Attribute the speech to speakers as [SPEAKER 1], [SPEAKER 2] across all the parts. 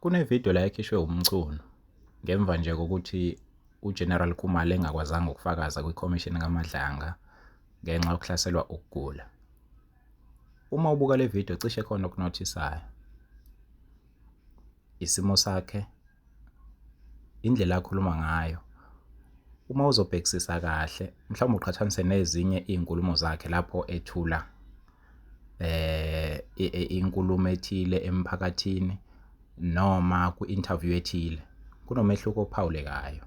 [SPEAKER 1] Kunevidiyo la ekhishwe uMchunu ngemva nje kokuthi uGeneral Khumalo engakwazanga ukufakaza kwikhomishini kaMadlanga ngenxa yokuhlaselwa ukugula. Uma ubuka le vidiyo cishe khona okunothisayo. Isimo sakhe Indlela akhuluma ngayo, uma uzobhekisisa kahle mhlawumbe uqhathanise nezinye iy'nkulumo zakhe lapho ethula inkulumo ethile emphakathini noma kwi-interview ethile, kunomehluko ophawulekayo.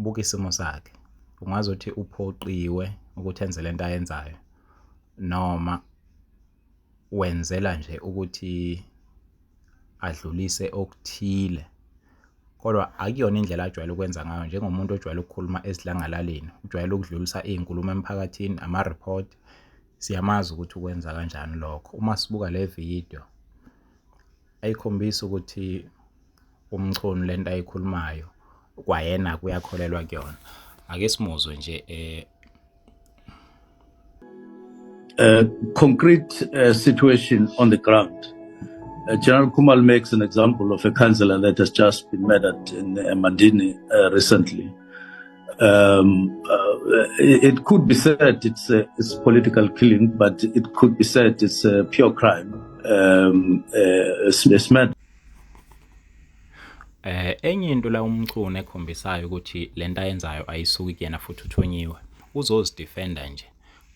[SPEAKER 1] Buka isimo sakhe, ungazuthi uphoqiwe ukuthi enze lento ayenzayo noma. wenzela nje ukuthi adlulise okuthile kodwa akuyona indlela ajwayele ukwenza ngayo njengomuntu ojwayele ukukhuluma esidlangalaleni, ujwayele ukudlulisa iy'nkulumo emphakathini, ama-report. Siyamazi ukuthi ukwenza kanjani lokho uma sibuka le vidiyo. ayikhombisi ukuthi umchunu lento ayikhulumayo kwayena kuyakholelwa kuyona ake simuzwe nje eh
[SPEAKER 2] uh, concrete uh, situation on the ground uh, General Kumal makes an example of a councillor that has just been murdered in uh, Mandini uh, recently Um, uh, it could be said it's, a, it's political killing, but it could be said it's a pure crime. Um, uh, it's, it's mad.
[SPEAKER 1] Eh enye into la umchunu ekhombisayo ukuthi lento ayenzayo ayisuki kuyena futhi uthonyiwe. Uzozidefenda nje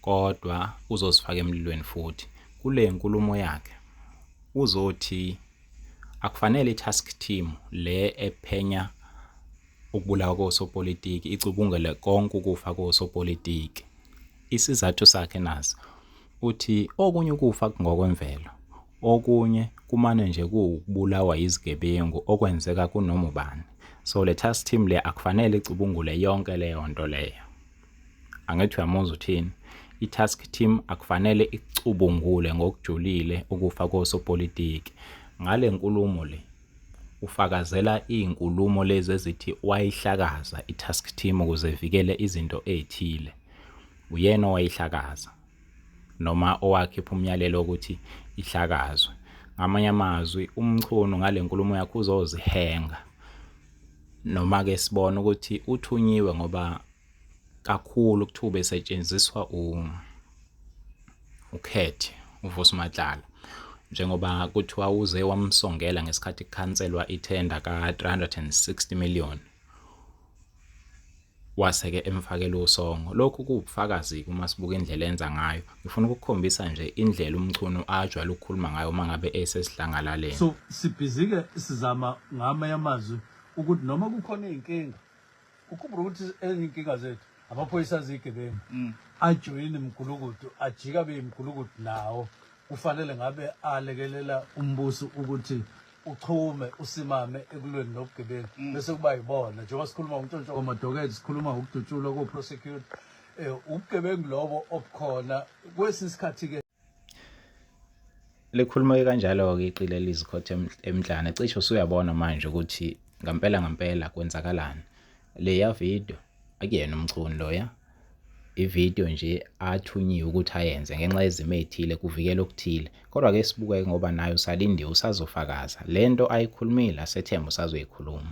[SPEAKER 1] kodwa uzozifaka emlilweni futhi. Kule nkulumo yakhe uzothi akufanele i-task team le ephenya ukubulawa kosopolitiki icubungele konke ukufa kosopolitiki. Isizathu sakhe nazi uthi okunye ukufa kungokwemvelo, okunye kumane nje kuwukubulawa yizigebengu okwenzeka kunoma ubani. So le task team le akufanele icubungule yonke leyo nto leyo. Angithi uyamuzwa uthini? I-task team akufanele icubungule ngokujulile ukufa kosopolitiki ngale nkulumo le. Ufakazela izinkulumo lezi ezithi wayihlakaza iTask Team ukuze ivikele izinto ezithile. Uyena owayihlakaza, noma owakhipha umyalelo wokuthi ihlakazwe. Ngamanye amazwi, uMchunu ngale nkulumo yakhe uzozihenga. Noma-ke sibone ukuthi uthunyiwe ngoba kakhulu kuthiwa ubesetshenziswa ukhethe uvusi matlala njengoba kuthiwa uze wamsongela ngesikhathi kukhanselwa ithenda ka-360 million waseke emfakela usongo lokhu kuwubufakazi uma sibuka indlela enza ngayo ngifuna ukukhombisa nje indlela umchunu ajwayele ukukhuluma ngayo uma ngabe esesidlangalaleni so sibhizike
[SPEAKER 3] sizama ngama yamazwi ukuthi noma kukhona izinkinga ukhumbula ukuthi ezinkinga zethu amaphoyisa azigebengu mm. ajoyini mgulukudu ajika beyimgulukudu nawo kufanele ngabe alekelela umbuso ukuthi uchume usimame ekulweni nobugebengu mm. bese kuba yibona njengoba sikhuluma ngontshontsho kwamadoketi sikhuluma ngokudutshulwa koprosecute um eh, ubugebengu lobo obukhona kwesinye isikhathi-ke Likhuluma
[SPEAKER 1] kanjalo-ke iqili elizikhothe emhlane, cishe usuyabona manje ukuthi ngampela ngampela kwenzakalani. Leya video akuyena umchunu loya, ividiyo nje athunyiwe ukuthi ayenze ngenxa yezimo ey'thile kuvikela okuthile. Kodwa-ke sibuke ngoba naye usalindiwe usazofakaza le nto ayikhulumile asethembe usazoyikhuluma.